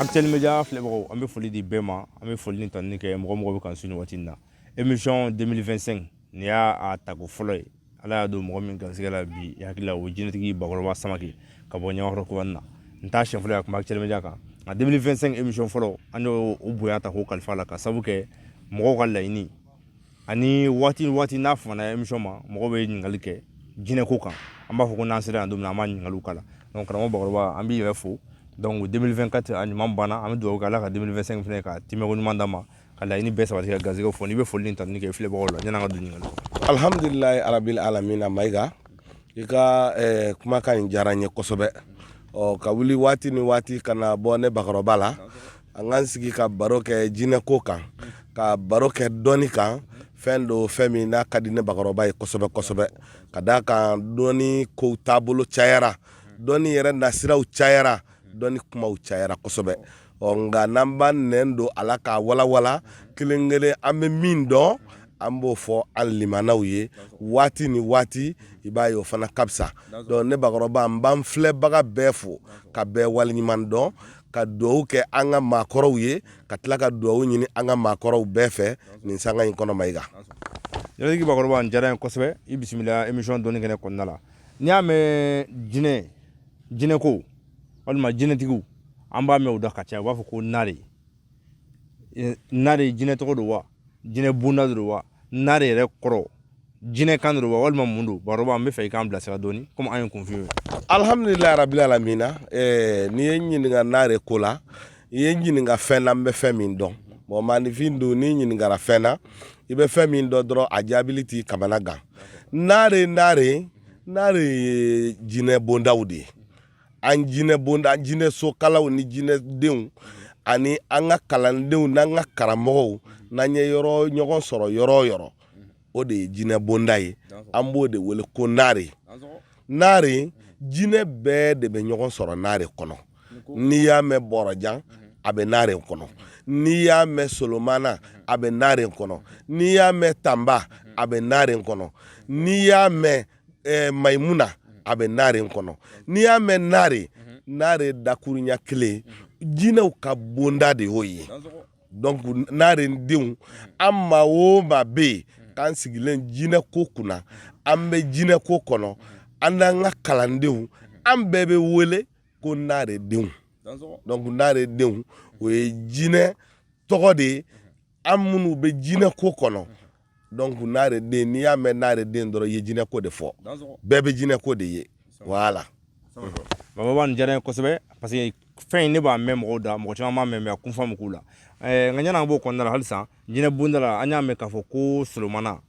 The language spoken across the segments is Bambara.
Actuel Media filɛbagaw an bɛ foli di bɛɛ ma, an bɛ foli ni tanuni kɛ mɔgɔ mɔgɔ bɛ k'an suivi waati in na. Emission 2025 nin y'a tako fɔlɔ ye. Ala y'a don mɔgɔ min garisigɛ la bi, i hakili la o ye jinɛtigi Bakɔrɔba Samake ka bɔ Ɲamakɔrɔ kubani na. Nin t'a siɲɛ fɔlɔ ye a tun bɛ Actuel Media kan. Nka 2025 emission fɔlɔ an y'o bonya ta k'o kalifa a la ka sabu kɛ mɔgɔw ka laɲini ani waati waati n'a fana émission ma mɔgɔ bɛ ɲininkali kɛ jinɛko kan an b'a fɔ ko n'an sera yan don min an b'a ɲininkaliw k'a la donc karamɔgɔ bakɔrɔba an b'i yɛrɛ fo donc 2024 a ɲuman banna an bɛ dugawu kɛ ala ka 2025 fana ka tɛmɛko ɲuman d'an ma ka laɲini bɛɛ sabati ka garisɛgɛ fɔ n'i bɛ foli ni tanuni kɛ filɛbagaw la yan'an ka don ɲininkali kɔnɔ alhamdulilayi rabil alamina mayiga i ka eh, kumakan in diyara n ye kosɛbɛ ɔ ka wuli waati ni waati ka na bɔ ne bakɔrɔba la an k'an sigi ka baro kɛ jinɛ ko kan ka baro kɛ dɔnni kan fɛn don fɛn min n'a ka di ne bakɔrɔba ye kosɛbɛ kosɛbɛ ka d'a kan dɔnni ko taabolo cayara dɔnni yɛrɛ nasiraw cayara dɔnni kumaw cayara kosɛbɛ ɔ nka n'an b'an nɛn don a la k'a walawala kelen kelen an bɛ min dɔn an b'o fɔ an limanaw ye waati ni waati i b'a ye o fana ka fisa donc ne bakɔrɔba n b'an filɛbaga bɛɛ fo ka bɛɛ waleɲuman dɔn ka dugawu kɛ an ka maakɔrɔw ye ka tila ka dugawu ɲini an ka maakɔrɔw bɛɛ fɛ nin sanga in kɔnɔ mayiga bakɔrɔba a diyara n ye kosɛbɛ i bisimila émission dɔnni kɛnɛ kɔnɔna la n'i y'a mɛn jinɛ ko walima jinɛtigiw an b'a mɛn o da ka ca u b'a fɔ ko naare naare jinɛ tɔgɔ don wa jinɛ bonda don wa naare yɛrɛ kɔrɔ jinɛ kan don wa walima mun don bakɔrɔba an b'a fɛ i k'an bilasira dɔɔni komi an ye kunfin ye alhamdulilayi rabil alamina eh, n'i ye n ɲininka naare ko la i ye n ɲininka fɛn na n bɛ fɛn min dɔn bon maanifin don n'i ɲininkara fɛn na i bɛ fɛn min dɔn dɔrɔn a jaabili t'i kamana gan naare naare naare ye jinɛ bondaw de ye an jinɛ bonda an jinɛ sokalaw ni jinɛdenw ani an ka kalandenw ni an ka karamɔgɔw n'an ye ɲɔgɔn sɔrɔ yɔrɔ yɔrɔ o de ye jinɛ bonda ye an b'o de wele ko naare naare jinɛ bɛɛ de bɛ ɲɔgɔn sɔrɔ naare kɔnɔ n'i y'a mɛn bɔrɔjan a bɛ naare kɔnɔ n'i y'a mɛn solomana a bɛ naare kɔnɔ n'i y'a mɛn tanba a bɛ naare kɔnɔ n'i y'a mɛn eh, mayimuna a bɛ naare kɔnɔ n'i y'a mɛn naare naare dakurunya kelen jinɛw ka bonda de y'o ye donc naare denw an maa o maa bɛ yen k'an sigilen jinɛ ko kunna an bɛ jinɛ ko kɔnɔ an n'an ka kalandenw an bɛɛ bɛ wele ko naare denw donc naare denw o ye jinɛ tɔgɔ de ye an minnu bɛ jinɛ ko kɔnɔ donc naare den n'i y'a mɛn naare den dɔrɔn i ye jinɛ ko de fɔ bɛɛ bɛ jinɛ ko de ye voilà bakɔrɔba nin diyara n ye kosɛbɛ parce que fɛn in ne b'a mɛn mɔgɔw da mɔgɔ caman b'a mɛn mais a kun faamu t'u la eh, nka ɲinan an b'o kɔnɔna la halisa jinɛ bonda la an y'a mɛn k'a fɔ ko solomana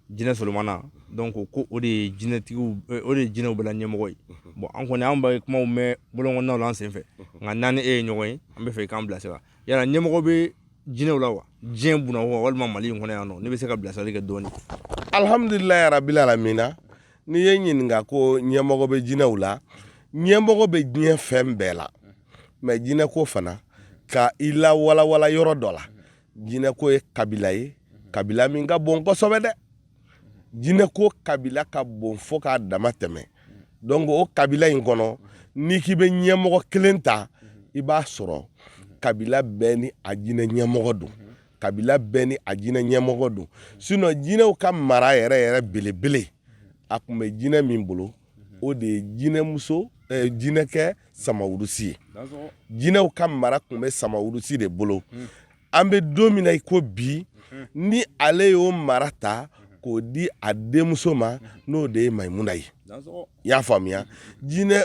jinɛ solomana donc ko o de ye jinɛtigiw eh, o de ye jinɛw bɛɛ la ɲɛmɔgɔ ye bon an kɔni an bɛ kumaw mɛn bolon kɔnɔnaw la an sen fɛ nka n'an ni e ye ɲɔgɔn ye an bɛ fɛ i k'an bilasira yala ɲɛmɔgɔ bɛ jinɛw la wa diɲɛ buna wa walima mali in kɔnɔ yan nɔ ne bɛ se ka bilasirali kɛ dɔɔni alhamdulilayi ya rabil alamina n'i ye n ɲininka ko ɲɛmɔgɔ bɛ jinɛw la ɲɛmɔgɔ bɛ diɲɛ fɛn bɛɛ la mais jinɛ ko fana ka i la walawala yɔrɔ dɔ la jinɛ ko ye kabila ye kabila min ka bon kosɛbɛ dɛ jinɛ ko kabila ka bon fo k'a dama tɛmɛ donc o kabila in kɔnɔ n'i k'i bɛ ɲɛmɔgɔ kelen ta i b'a sɔrɔ kabila bɛɛ ni a jinɛ ɲɛmɔgɔ don kabila bɛɛ ni a jinɛ ɲɛmɔgɔ don sinon jinɛw ka mara yɛrɛ yɛrɛ belebele a tun bɛ jinɛ min bolo o de ye jinɛmuso eh, jinɛkɛ samawurusi ye jinɛw ka mara tun bɛ samawurusi de bolo an bɛ don min na i ko bi ni ale y'o mara ta k'o di a denmuso ma n'o de ye mayimuna ye i y'a faamuya jinɛ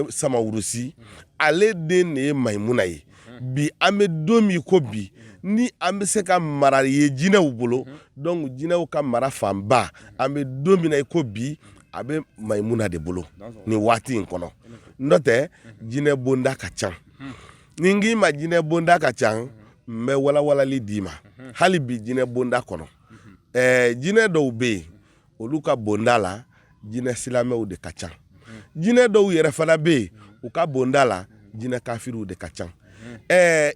samawurusi ale den de ye mayimuna ye bi an bɛ don min ko bi ni an bɛ se ka mara ye jinɛw bolo donc jinɛw ka mara fanba an bɛ don min i ko bi a bɛ mayimuna de bolo nin waati in kɔnɔ n'o tɛ jinɛ bonda ka ca ni n k'i ma jinɛ bonda ka ca n bɛ walawalali d'i ma hali bi jinɛ bonda kɔnɔ jinɛ dɔw bɛ yen olu ka bonda la jinɛ silamɛw de ka ca jinɛ dɔw yɛrɛ fana bɛ yen u ka bonda la jinɛ kafiriw de ka ca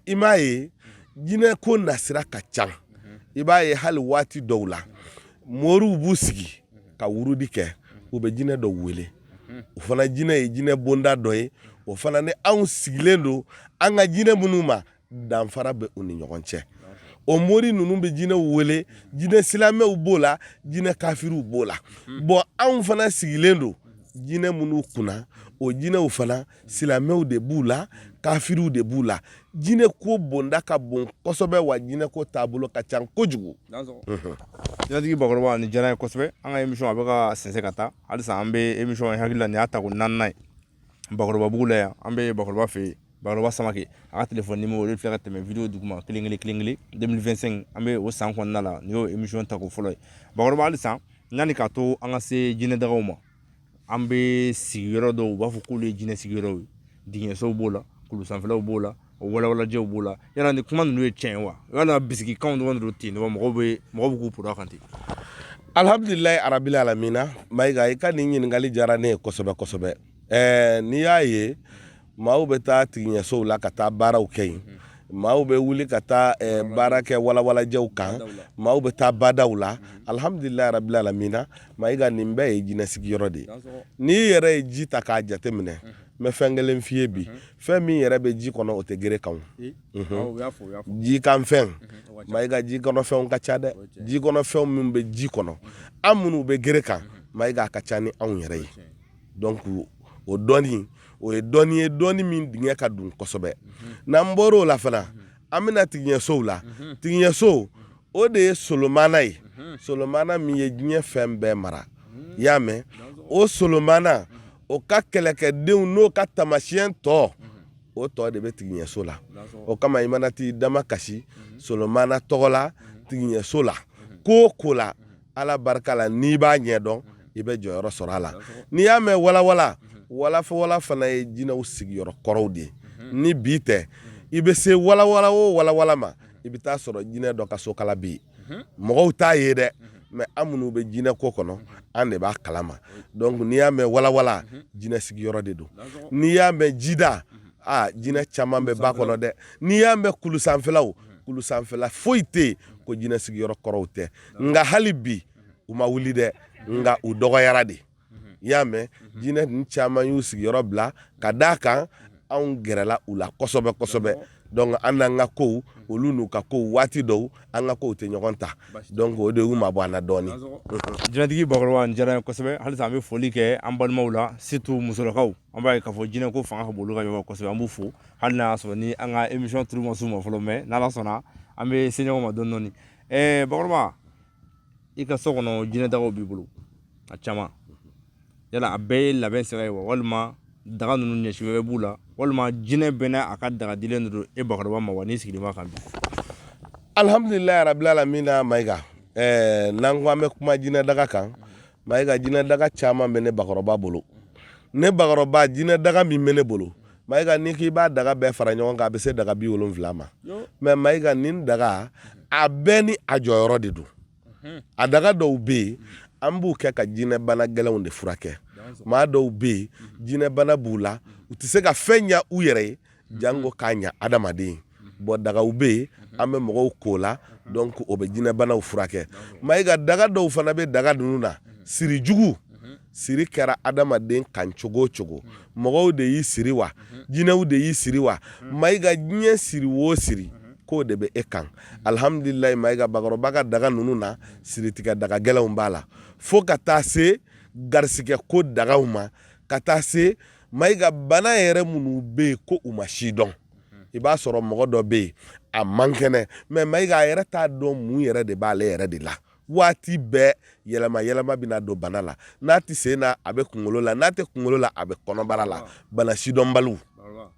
i m'a ye jinɛ ko nasira ka ca i b'a ye hali waati dɔw la moriw b'u sigi ka wurudi kɛ u bɛ jinɛ dɔw wele o fana jinɛ ye jinɛ bonda dɔ ye o fana ni anw sigilen don an ka jinɛ minnu ma danfara bɛ u ni ɲɔgɔn cɛ o mori ninnu bɛ jinɛw wele jinɛ silamɛw b'o la jinɛ kafiriw b'o la bon anw fana sigilen don jinɛ minnu kunna o jinɛw fana silamɛw de b'u la kafiriw de b'u la jinɛ ko bonda ka bon kosɛbɛ wa jinɛ ko taabolo ka ca kojugu jinɛtigi bakɔrɔba nin diyara n ye kosɛbɛ an ka emisɔn a bɛ ka sɛnsɛn ka taa halisa an bɛ emisɔn in n hakili la nin y'a ta ko naaninan ye bakɔrɔba bugu la yan an bɛ bakɔrɔba fɛ yen bakɔrɔba samake a ka telefɔni nimoro o de filɛ ka tɛmɛ video duguma kelen kelen 2025 an bɛ o san kɔnɔna la nin y'o emisɔn ta ko fɔlɔ ye bakɔrɔba halisa yanni k'a to an ka se jinɛ dagaw ma an bɛ sigiyɔrɔ dɔw u b'a fɔ k'olu ye jinɛ sigiyɔrɔw ye tigiɲɛsow b'o la kulu sanfɛlaw b'o la o walawalajɛw b'o la yala ni kuma ninnu ye tiɲɛ ye wa yala bisigikanw dɔrɔn de don ten mɔgɔw bɛ k'u poro kan ten alihamdulilayi arabili alamina mayiga i ka nin ɲininkali diyara ne ye kosɛbɛ kosɛbɛ ɛɛ n'i y'a ye maaw bɛ taa tigiɲɛsow la ka taa baaraw kɛ yen maaw bɛ wuli ka taa eh, baara kɛ walawalajɛw kan maaw bɛ taa badaw la alhamdulilayi rabil alamina mayiga nin bɛɛ ye jinɛ sigiyɔrɔ de ye n'i yɛrɛ ye ji ta k'a jateminɛ n bɛ fɛn kelen f'i ye bi fɛn min yɛrɛ bɛ ji kɔnɔ o tɛ gere kan ji kan fɛn mayiga ji kɔnɔ fɛnw ka ca dɛ ji kɔnɔ fɛnw min bɛ ji kɔnɔ an minnu bɛ gere kan mayiga a ka ca ni anw yɛrɛ ye dɔnku o dɔnni o ye dɔnni ye dɔnni min dingɛ ka dun kosɛbɛ n'an bɔra o la fana an bɛ na tigiɲɛsow la tigiɲɛso o de ye solomana ye solomana min ye diɲɛ fɛn bɛɛ mara i y'a mɛn o solomana o ka kɛlɛkɛdenw n'o ka taamasiyɛn tɔ o tɔ de bɛ tigiɲɛso la o kama i mana t'i damakasi solomana tɔgɔ la tigiɲɛso la ko ko la ala barika la n'i b'a ɲɛdɔn i bɛ jɔyɔrɔ sɔrɔ a la n'i y'a mɛn walawala walawala fana ye jinɛw sigiyɔrɔ kɔrɔw de ye ni bi tɛ i bɛ se walawala o walawala ma i bɛ t'a sɔrɔ jinɛ dɔ ka sokala bɛ yen mɔgɔw t'a ye dɛ mɛ an minnu bɛ jinɛ ko kɔnɔ an de b'a kalama dɔnku n'i y'a mɛn walawala jinɛ sigiyɔrɔ de don n'i y'a mɛn jida aa jinɛ caman bɛ ba kɔnɔ dɛ n'i y'a mɛn kulu sanfɛlaw kulu sanfɛla foyi tɛ yen ko jinɛ sigiyɔrɔ kɔrɔw tɛ nka hali bi u ma wuli dɛ nka u dɔgɔyara de i y'a mɛn jinɛ ninnu caman y'u sigiyɔrɔ bila ka d'a kan anw gɛrɛla u la kosɛbɛ kosɛbɛ dɔnku an n'an ka ko olu n'u ka ko waati dɔw an ka kow tɛ ɲɔgɔn ta dɔnku o de y'u mabɔ an na dɔɔnin jinɛtigi bakɔrɔba nin diyara n ye kosɛbɛ halisa an bɛ foli kɛ an balimaw la surtout musolakaw an b'a ye k'a fɔ jinɛ ko fanga ka bon olu ka ɲɔgɔn kosɛbɛ an b'u fo hali n'a y'a sɔrɔ ni an ka emisiyɔn turu ma s'u ma fɔlɔ mɛ n'ala sɔnna an bɛ se ɲɔgɔn ma dɔɔnin dɔɔnin ɛɛ bakɔrɔba i ka so kɔnɔ jinɛdagaw b'i bolo a caman yala a bɛɛ ye labɛn sira ye wa walima daga ninnu ɲɛci wɛrɛ b'u la walima jinɛ bɛɛ n'a ka daga dilen de don e bakɔrɔba ma wa n'i sigilen b'a kan bi alhamdulilayi rabil alamina mayiga ɛɛ n'an ko an bɛ kuma jinɛ daga kan Mayiga jinɛ daga caman bɛ ne bakɔrɔba bolo ne bakɔrɔba jinɛ daga min bɛ ne bolo mayiga n'i k'i b'a daga bɛɛ fara ɲɔgɔn kan a bɛ se daga bi wolonfila ma mɛ mayiga nin daga a bɛɛ ni a jɔyɔrɔ de don a daga dɔw bɛ yen an b'u kɛ ka jinɛbana gɛlɛnw de furakɛ maa dɔw bɛ yen jinɛbana b'u la u tɛ se ka fɛn ɲɛ u yɛrɛ ye janko k'a ɲɛ adamaden bon dagaw bɛ yen an bɛ mɔgɔw k'o la donc o bɛ jinɛbanaw furakɛ mayiga daga dɔw fana bɛ daga ninnu na siri jugu siri kɛra adamaden kan cogo o cogo mɔgɔw de y'i siri wa jinɛw de y'i siri wa mayiga diɲɛ siri o siri k'o de bɛ e kan alihamdulilayi mayiga bakɔrɔba ka daga ninnu na siri tigɛ daga gɛlɛnw b'a la fo ka taa se garisɛgɛ ko dagaw ma ka taa se mayiga bana yɛrɛ minnu bɛ yen ko u ma sidɔn i b'a sɔrɔ mɔgɔ dɔ bɛ yen a man kɛnɛ mais mayiga a yɛrɛ t'a dɔn mun yɛrɛ de b'ale yɛrɛ de la waati bɛɛ yɛlɛma yɛlɛma bɛna don bana la n'a tɛ sen na a bɛ kunkolo la n'a tɛ kunkolo la a bɛ kɔnɔbara la bana sidɔnbaliw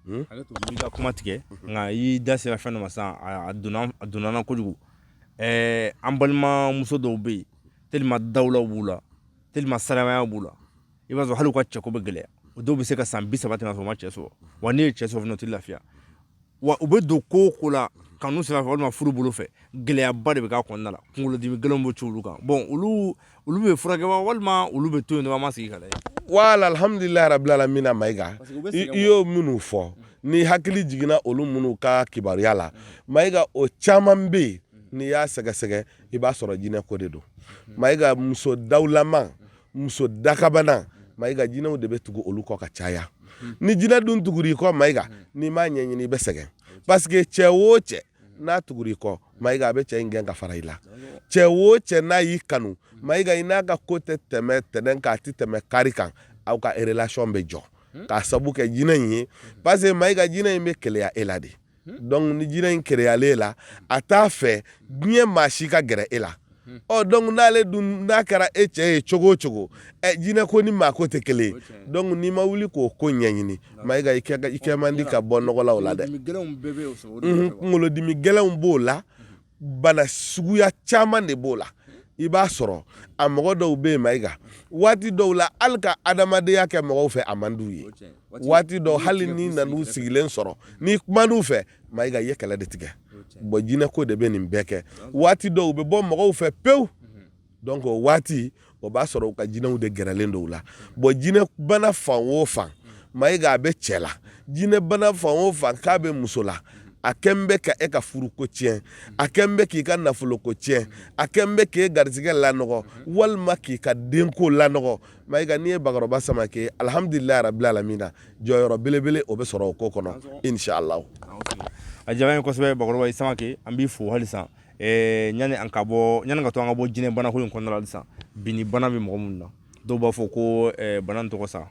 hmm? hakɛ to n y'i ka kuma tigɛ nka i y'i da sera fɛn dɔ ma sisan a donna a donna n na kojugu ɛɛ an balimamuso dɔw bɛ yen tellement dawulaw b'u la tellement saraya b'u la i b'a sɔrɔ hali u ka cɛko bɛ gɛlɛya o dɔw bɛ se ka san bi saba tɛmɛ ka sɔrɔ u ma cɛ sɔrɔ wa n'u ye cɛ sɔrɔ fana o tɛ lafiya wa u bɛ don ko o ko la kanu sira fɛ walima furu bolo fɛ gɛlɛyaba de bɛ k'a kɔnɔna la kunkolodimi gɛlɛnw bɛ ci olu kan bon olu olu bɛ furakɛ wa walima olu bɛ to yen dɔrɔn an ma sigi ka lajɛ voilà alhamdulilayi rabil alamina mayiga i y'o minnu fɔ ni hakili jiginna olu minnu ka kibaruya la mayiga o caman bɛ yen n'i y'a sɛgɛsɛgɛ i b'a sɔrɔ jinɛ ko de don mayiga muso dawulama muso dakabana mayiga jinɛw de bɛ tugu olu kɔ ka caya ni jinɛ dun tugura i kɔ mayiga n'i m'a ɲɛɲini i bɛ sɛgɛn parce que cɛ o cɛ n'a tugura i kɔ mayiga a bɛ cɛ in gɛn ka fara i la cɛ o cɛ n'a y'i kanu mayiga i n'a ka ko tɛ tɛmɛ tɛnɛn kan a tɛ tɛmɛ kari kan aw ka relation bɛ jɔ k'a sabu kɛ jinɛ in ye parce que mayiga jinɛ in bɛ keleya e la de donc ni jinɛ in keleyala e la a t'a fɛ diɲɛ maa si ka gɛrɛ e la ɔ donc n'ale dun n'a kɛra e cɛ ye cogo o cogo ɛ jinɛ ko ni maa ko tɛ kelen ye donc n'i ma wuli k'o ko ɲɛɲini mayiga i kɛ man di ka bɔ nɔgɔ la o la dɛ kunkolodimi gɛlɛnw b'o la bana suguya caman de b'o la i b'a sɔrɔ a mɔgɔ dɔw bɛ yen mayiga waati dɔw la hali ka adamadenya kɛ mɔgɔw fɛ a man d'u ye waati dɔw hali n'i nan'u sigilen sɔrɔ n'i kuman'u fɛ mayiga i ye kɛlɛ de tigɛ bon jinɛko de bɛ nin bɛɛ kɛ waati dɔw u bɛ bɔ mɔgɔw fɛ pewu donc o waati o b'a sɔrɔ u ka jinɛw de gɛrɛlen don u la bon jinɛ bana fan o fan mayiga a bɛ cɛ la jinɛ bana fan o fan k'a bɛ muso la a kɛlen bɛ ka e ka furuko tiɲɛ a kɛlen bɛ k'i ka nafoloko tiɲɛ a kɛlen bɛ k'e garijɛgɛ lanɔgɔ walima k'i ka denko lanɔgɔ mayiga n'i ye bakɔrɔba samakɛ alihamdulilayi rabil alamina jɔyɔrɔ belebele o bɛ sɔrɔ o ko kɔnɔ inshallah a diyara n ye kosɛbɛ bakɔrɔba i samakɛ an b'i fo hali Ɛɛ yanni an ka bɔ yanni k'a to an ka bɔ jinɛ bana ko in kɔnɔna la sisan binni bana bɛ mɔgɔ minnu na dɔw b'a fɔ ko bana tɔgɔ sa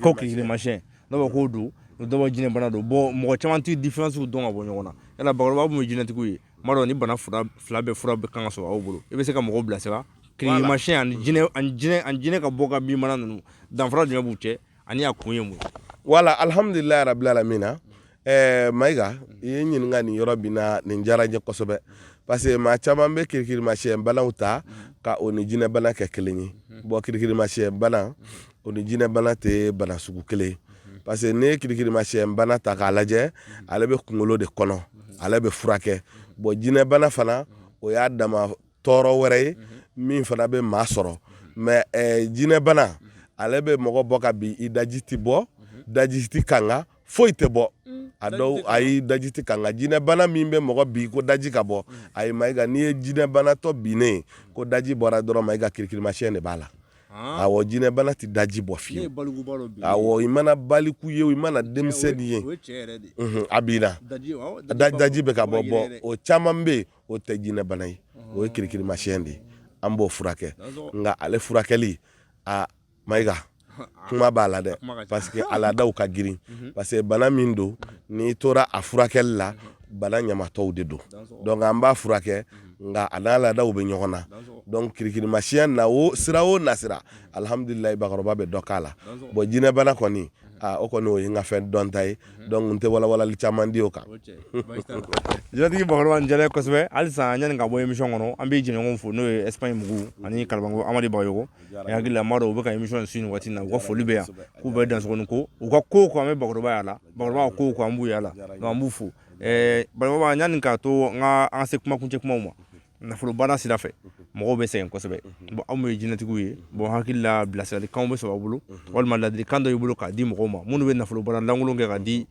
ko kirikirimasiyɛn dɔw bɛ k'o don dɔw bɛ jinɛ bana don bɔn mɔgɔ caman tɛ différence dɔn ka bɔ ɲɔgɔn na yala bakɔrɔba mun ye jinɛtigiw ye n b'a dɔn nin bana fila bɛɛ fura bɛ kan ka sɔrɔ aw bolo i bɛ se ka mɔgɔw bilasira kirikirimasiyɛn ani jinɛ ka bɔ ka bin bana ninnu danfara jumɛn b'u cɛ ani a kun ye mun ye wala alhamdulilayi rabbil alamina ɛɛ mayiga i ye n ɲininka nin yɔrɔ min na nin diyara n ye kosɛbɛ parce que maa caman bɛ kirikirimasiyɛn banaw ta ka o ni jinɛ bana kɛ kelen ye bɔn kirikirimasiyɛn bana o ni jinɛ bana tɛ bana sugu kelen ye parce que n'i ye kirikirimasiyɛn bana ta k'a lajɛ ale bɛ kunkolo de kɔnɔ ale bɛ furakɛ bɔn jinɛ bana fana o y'a dama tɔɔrɔ wɛrɛ ye min fana bɛ maa sɔrɔ mɛ eh, jinɛbana ale bɛ mɔgɔ bɔ ka bin i daji tɛ bɔ daji tɛ kanga foyi tɛ bɔ a dɔw ayi daji tɛ kanga jinɛbana min bɛ mɔgɔ bin ko daji ka bɔ ayi mayiga n'i ye jinɛbanatɔ binnen ko daji bɔra dɔrɔn mayiga kirikirimasiyɛn de b'a la Ah. awɔ jinɛbana tɛ daji bɔ fiyewu awɔ i mana baliku ye i mana denmisɛnnin ye a binna daji bɛ ka bɔ bɔ o caman bɛ yen o tɛ jinɛ bana ye o ye kirikirimasiyɛn de ye an b'o furakɛ nka ale furakɛli a mayiga kuma b'a la dɛ parce que a laadaw ka girin parce que bana min don n'i tora a furakɛli la bana ɲamatɔw de don dɔnku an b'a furakɛ nka a n'a laadaw bɛ ɲɔgɔn na dɔnku kirikirimasiyɛn na o sira o nasira alhamdulilayi bakɔrɔba bɛ dɔ k'a la bɔn jinɛbana kɔni o kɔni o ye n ka fɛn dɔnta ye dɔnku n tɛ walawalali caman di o kan jinɛtigi bakɔrɔba diyara n ye kosɛbɛ halisa yanni ka bɔ émission kɔnɔ an bɛ jɛɲɔgɔnw fo n'o ye Espagne mugu ani kara amadu bagayɔgɔ hakili la u bɛ ka émission su waati na u ka foli bɛ yan k'u bɛ dan ko u ka ko ko an bɛ bakɔrɔba y'a la bakɔrɔba ko ko an b' yala la an b'u fo bakɔrɔba yanni k'a to an ka an se kumakuncɛ kuma ma nafolo baara sira fɛ mɔgɔw bɛ sɛgɛn kosɛbɛ bon aw mun ye jinɛtigiw ye bon hakili la bilasiralikanw bɛ sɔrɔ aw bolo walima ladilikan dɔ y'i bolo k'a di mɔgɔw ma minnu bɛ nafolo baara lankolon kɛ ka di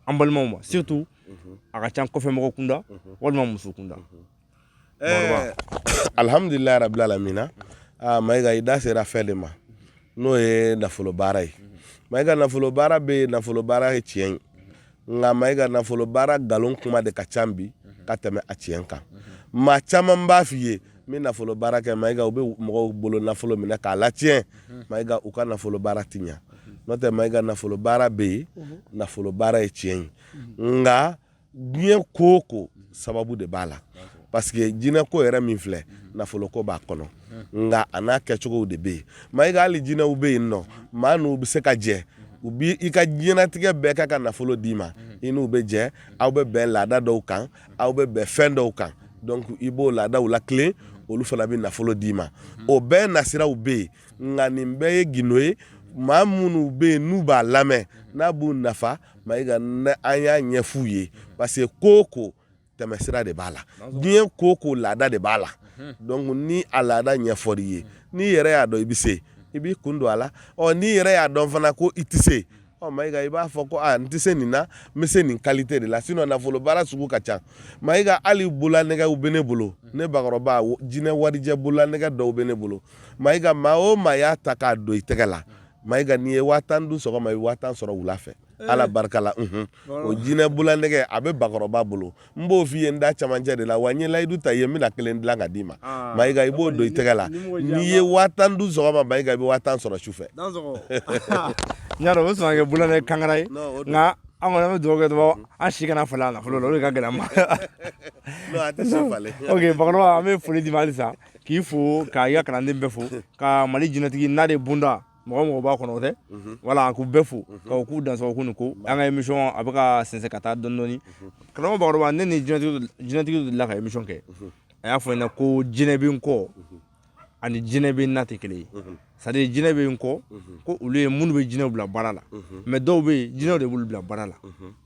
an balimaw ma surtout a ka ca kɔfɛ mɔgɔ kunda walima muso kunda eh, alhamdulilayi rabbil alamina ah, mayiga i da sera fɛn de ma n'o ye nafolo baara ye mayiga nafolo baara bɛ yen nafolo baara ye tiɲɛ ye nka mayiga nafolo baara nkalon kuma de ka ca bi ka tɛmɛ a tiɲɛ kan maa caman b'a f'i ye n bɛ nafolo baara kɛ mayiga u bɛ mɔgɔw bolo nafolo minɛ k'a latiɲɛ mayiga u ka nafolo baara ti ɲa n'o tɛ mayiga nafolo baara bɛ yen nafolo baara ye tiɲɛ ye nka diɲɛ ko o ko sababu de b'a la parce que jinɛko yɛrɛ min filɛ nafolo ko b'a kɔnɔ nka a n'a kɛcogow de bɛ yen mayiga hali jinɛw bɛ yen nɔ maa n'u bɛ se ka jɛ u bi i ka diɲɛnatigɛ bɛɛ kɛ ka nafolo d'i ma i n'u bɛ jɛ aw bɛ bɛn laada dɔw kan aw bɛ bɛn fɛn dɔw kan donc i b'o laadaw latilen olu fana bɛ nafolo d'i ma o bɛɛ nasiraw bɛ yen nka nin bɛɛ ye gindo ye maa minnu bɛ yen n'u b'a lamɛn n'a b'u nafa mayiga an y'a ɲɛf'u ye parce que ko o ko tɛmɛsira de b'a la diɲɛ ko ko laada de b'a la donc ni a laada ɲɛfɔr'i ye n'i yɛrɛ y'a dɔn i bɛ se i b'i kun don a la ɔ n'i yɛrɛ y'a dɔn fana ko i tɛ se ɔ mayiga i b'a fɔ ko aa n tɛ se nin na n bɛ se nin qualité de la sinon nafolo baara sugu ka ca mayiga hali bololanɛgɛw bɛ ne bolo ne bakɔrɔba jinɛ warijɛ bololanɛgɛ dɔw bɛ ne bolo mayiga maa o maa y'a ta k'a don i tɛgɛ la mayiga n'i ye waa tan dun sɔgɔma i bɛ waa tan sɔrɔ wula fɛ ala barika la o jinɛ bololanɛgɛ a bɛ bakɔrɔba bolo n b'o f'i ye n da camancɛ de la wa n ye layidu ta i ye n bɛna kelen dilan ka d'i ma mayiga i b'o don i tɛgɛ la n'i ye waa tan dun sɔgɔma mayiga i bɛ waa tan sɔrɔ su fɛ n y'a dɔn o bɛ sɔn ka kɛ bololanɛgɛ kangara ye nka an kɔni an bɛ dugawu kɛ dɔrɔn an si kana falen a la fɔlɔ o de ka gɛlɛn ma ok bakɔrɔba an bɛ foli d'i ma halisa k'i fo k'i ka kalanden bɛɛ fo ka mali jinɛtigi nare bunda mɔgɔ o mɔgɔ b'a kɔnɔ tɛ wala k'u bɛɛ fo k'u dansɔgɔ k'u ni ko an ka émission a bɛ ka sɛnsɛn ka taa dɔɔni dɔɔni karamɔgɔ bakɔrɔba ne ni jinɛtigi delila ka émission kɛ a y'a fɔ n ɲɛna ko jinɛ bɛ n kɔ ani jinɛ bɛ n na tɛ kelen ye c'est à dire jinɛ bɛ n kɔ ko olu ye minnu bɛ jinɛw bila baara la mais dɔw bɛ yen jinɛw de b'olu bila baara la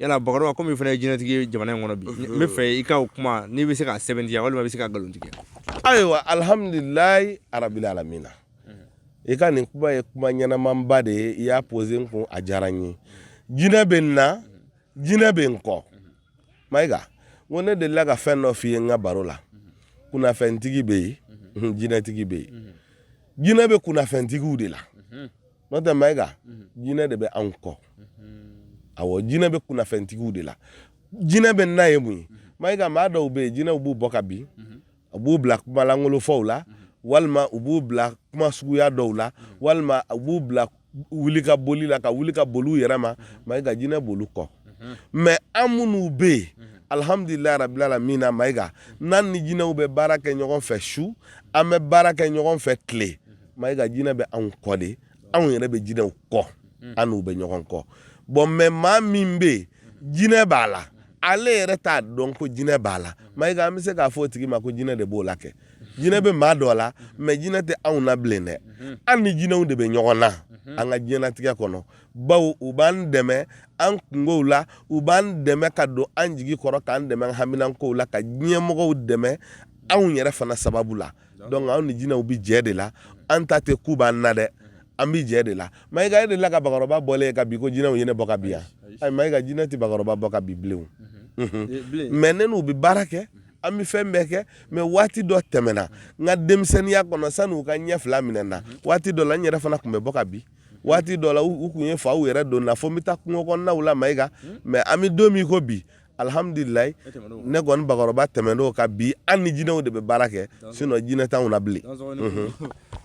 yala bakɔrɔba kɔmi i fana ye jinɛtigi ye jamana in kɔnɔ bi n b'a fɛ i ka o kuma n'i bɛ se k'a sɛbɛntiya walima i bɛ se k'a nkalontigiya ayiwa alihamdulilayi arabil alamina i ka nin kuma ye kuma ɲɛnamanba de ye i y'a posé n kun a diyara n ye jinɛ bɛ n na jinɛ bɛ n kɔ mayiga n ko ne delila ka fɛn dɔ f'i ye n ka baro la kunnafɛntigi bɛ yen jinɛtigi bɛ yen jinɛ bɛ kunnafɛntigiw de la n'o tɛ mayiga jinɛ de bɛ anw kɔ awɔ jinɛ bɛ kunnafɛntigiw de la jinɛ bɛ n na ye mun ye mayiga maa dɔw bɛ yen jinɛw b'u bɔ ka bin u b'u bila kumalankolonfɔw la walima u b'u bila kuma suguya dɔw la walima u b'u bila wuli ka boli la ka wuli ka boli u yɛrɛ ma mayiga jinɛ b'olu kɔ mais an minnu bɛ yen alihamdulilayi rabil alamina mayiga n'an ni jinɛw bɛ baara kɛ ɲɔgɔn fɛ su an bɛ baara kɛ ɲɔgɔn fɛ tile mayiga jinɛ bɛ anw kɔ de anw yɛrɛ bɛ jinɛw kɔ mm. an n'u bɛ ɲɔgɔn kɔ bon mais maa min bɛ yen jinɛ b'a la ale yɛrɛ t'a dɔn ko jinɛ b'a la mayiga an bɛ se k'a fɔ o tigi ma ko jinɛ de b'o la kɛ jinɛ bɛ maa dɔ la mais jinɛ tɛ anw na bilen dɛ mm-hmm. an ni jinɛw de bɛ ɲɔgɔn na mm-hmm. an ka diɲɛnatigɛ kɔnɔ bawo u b'an dɛmɛ an kungow la u b'an dɛmɛ ka don an jigi kɔrɔ k'an dɛmɛ an haminankow la ka diɲɛmɔgɔw dɛmɛ anw yɛrɛ fana sababu la donc anw ni jinɛw bɛ jɛ de la an ta tɛ k'u b'an na dɛ an bɛ jɛ de la mayiga e delila ka bakɔrɔba bɔlen ye ka bin ko jinɛw ye ne bɔ ka bin yan ayi mayiga jinɛ tɛ bakɔrɔba bɔ ka bin bilen mais ne n'u bɛ baara kɛ an bɛ fɛn bɛɛ kɛ mais waati dɔ tɛmɛna n ka denmisɛnninya kɔnɔ sani u ka ɲɛ fila minɛ na waati dɔ la n yɛrɛ fana tun bɛ bɔ ka bin waati dɔ la u tun ye faw yɛrɛ don na fo n bɛ taa kungo kɔnɔnaw la mayiga mais an bɛ don min ko bi alhamdulilayi ne kɔni bakɔrɔba tɛmɛn'o kan bi an ni jinɛw de bɛ baara kɛ sinon jinɛ t'anw na bilen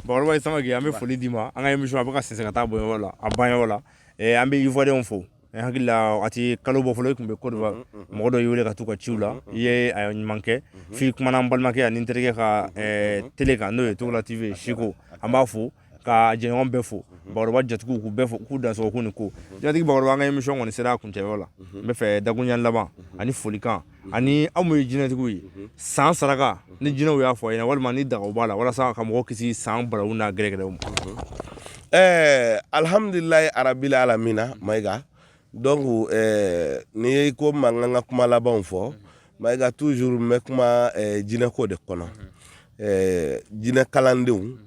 bakɔrɔba samake an bɛ foli d'i ma an ka émission a bɛ ka sɛnsɛn ka taa bɔyɔrɔ la a banyɔrɔ la eh, an bɛ ivoirienw fo eh, n hakili la a tɛ kalo bɔ fɔlɔ i tun bɛ Côte d'Ivoire mɔgɔ dɔ y'i wele ka t'a ka ciw la i ye a ɲuman kɛ f'i kumana n balimakɛ ani n terikɛ ka télé kan n'o ye togola TV ye siko an b'a fo ka jɛɲɔgɔn bɛɛ fo bakɔrɔba jatigiw k'u bɛɛ fo k'u dansɔgɔ k'u ni ko jinɛtigi bakɔrɔba an ka émission kɔni sera a kuncɛyɔrɔ la n bɛ fɛ dakuruɲɛ laban ani folikan ani aw minnu ye jinɛtigiw ye san saraka ni jinɛw y'a fɔ a ɲɛna walima ni dagaw b'a la walasa ka mɔgɔw kisi san balawu n'a gɛrɛgɛrɛw ma ɛɛ alhamdulilayi arabili alamina mayiga donc ɛɛ n'i ye ko mankan ka kuma labanw fɔ Mayiga toujours n bɛ kuma jinɛko de kɔnɔ jinɛ kalandenw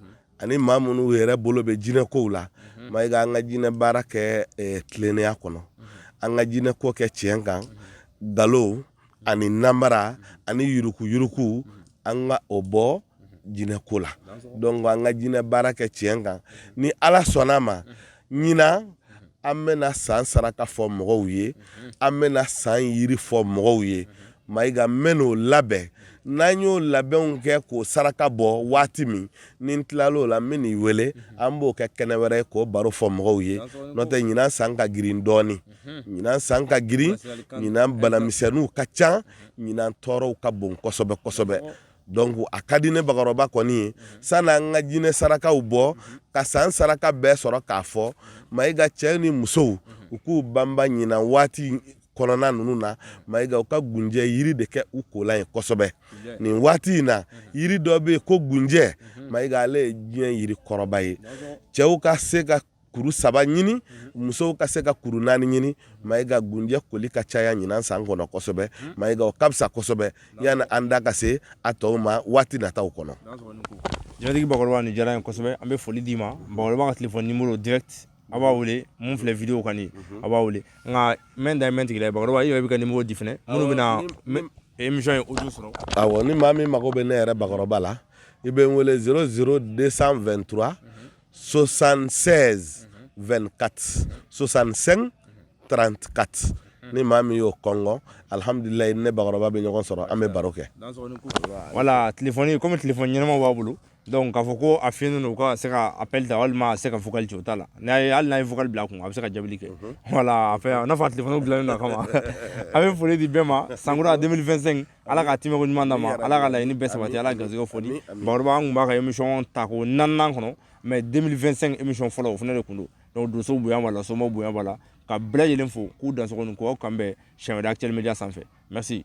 ani maa minnu yɛrɛ bolo bɛ jinɛkow la mayiga an ka jinɛ baara kɛ tilennenya kɔnɔ an ka jinɛko kɛ tiɲɛ kan nkalon ani namara ani yuruguyurugu an ka o bɔ jinɛko la donc an ka jinɛ baara kɛ tiɲɛ kan ni ala sɔnn'a ma ɲinan an bɛna san saraka fɔ mɔgɔw ye an bɛna san yiri fɔ mɔgɔw ye mayiga n bɛn'o labɛn n'an y'o labɛnw kɛ k'o saraka bɔ waati min ni n tilal'o la n bɛn'i wele an b'o kɛ kɛnɛ wɛrɛ ye k'o baro fɔ mɔgɔw ye n'o tɛ ɲinan san ka girin dɔɔni ɲinan san ka girin ɲinan banamisɛnninw ka ca ɲinan tɔɔrɔw ka bon kosɛbɛ kosɛbɛ Donc a ka di ne bakɔrɔba kɔni ye sanni an ka jinɛ sarakaw bɔ ka san saraka bɛɛ sɔrɔ k'a fɔ mayiga cɛ ni musow u k'u banba ɲinan waati kɔnɔna ninnu na mayiga u ka gunjɛ yiri de kɛ u kolan ye kosɛbɛ nin waati in na yiri dɔ bɛ yen ko gunjɛ mayiga ale ye diɲɛ yiri kɔrɔba ye cɛw ka se ka kuru saba ɲini musow ka se ka kuru naani ɲini mayiga gunjɛ koli ka caya ɲinan san kɔnɔ kosɛbɛ mayiga o ka fisa kosɛbɛ yani an da ka se a tɔw ma waati nata kɔnɔ jinɛtigi bakɔrɔba ni diyara n ye kosɛbɛ an bɛ foli d'i ma ka téléphone numéro direct a b'a wele min filɛ vidéo kan a b'a wele nka mɛ da mɛn tigila bakɔrɔba yɛrɛ bɛ ka numéro di fana minnu bɛ na émission audio sɔrɔ ni maa min mago bɛ ne yɛrɛ bakɔrɔba la i bɛ n wele 00223 sosansɛ2ka sosansen tranka ni maa min y'o kɔn alihamdulila ne bakɔrɔba bɛ ɲɔgɔn sɔrɔ an bɛ baro kɛ wala tile kɔmi tile ɲɛnama b'a bolo dɔnku k'a fɔ ko a fi u ka se ka apda walima se ka fɔli cogo ta la n'a ye hali n'a ye fugli bila kun a bɛ se ka jaabi kɛ wala fɛ tile bila kama a bɛ foli di bɛɛ ma san a denmisɛnnin2 ala ka timɛko ɲuman d'a ma ala ka laɲini bɛɛ sabati ala ka garisɛgɛ foni bakɔrɔba an tun b'a ka émission ta ko naaninan kɔnɔ mais 2025 émission fɔlɔ o fana de tun don donc donso bonya b'a la somaw bonya b'a la ka bɛɛ lajɛlen fo k'u dansogo ni k'aw kanbɛn siɲɛ wɛrɛ actuel media sanfɛ merci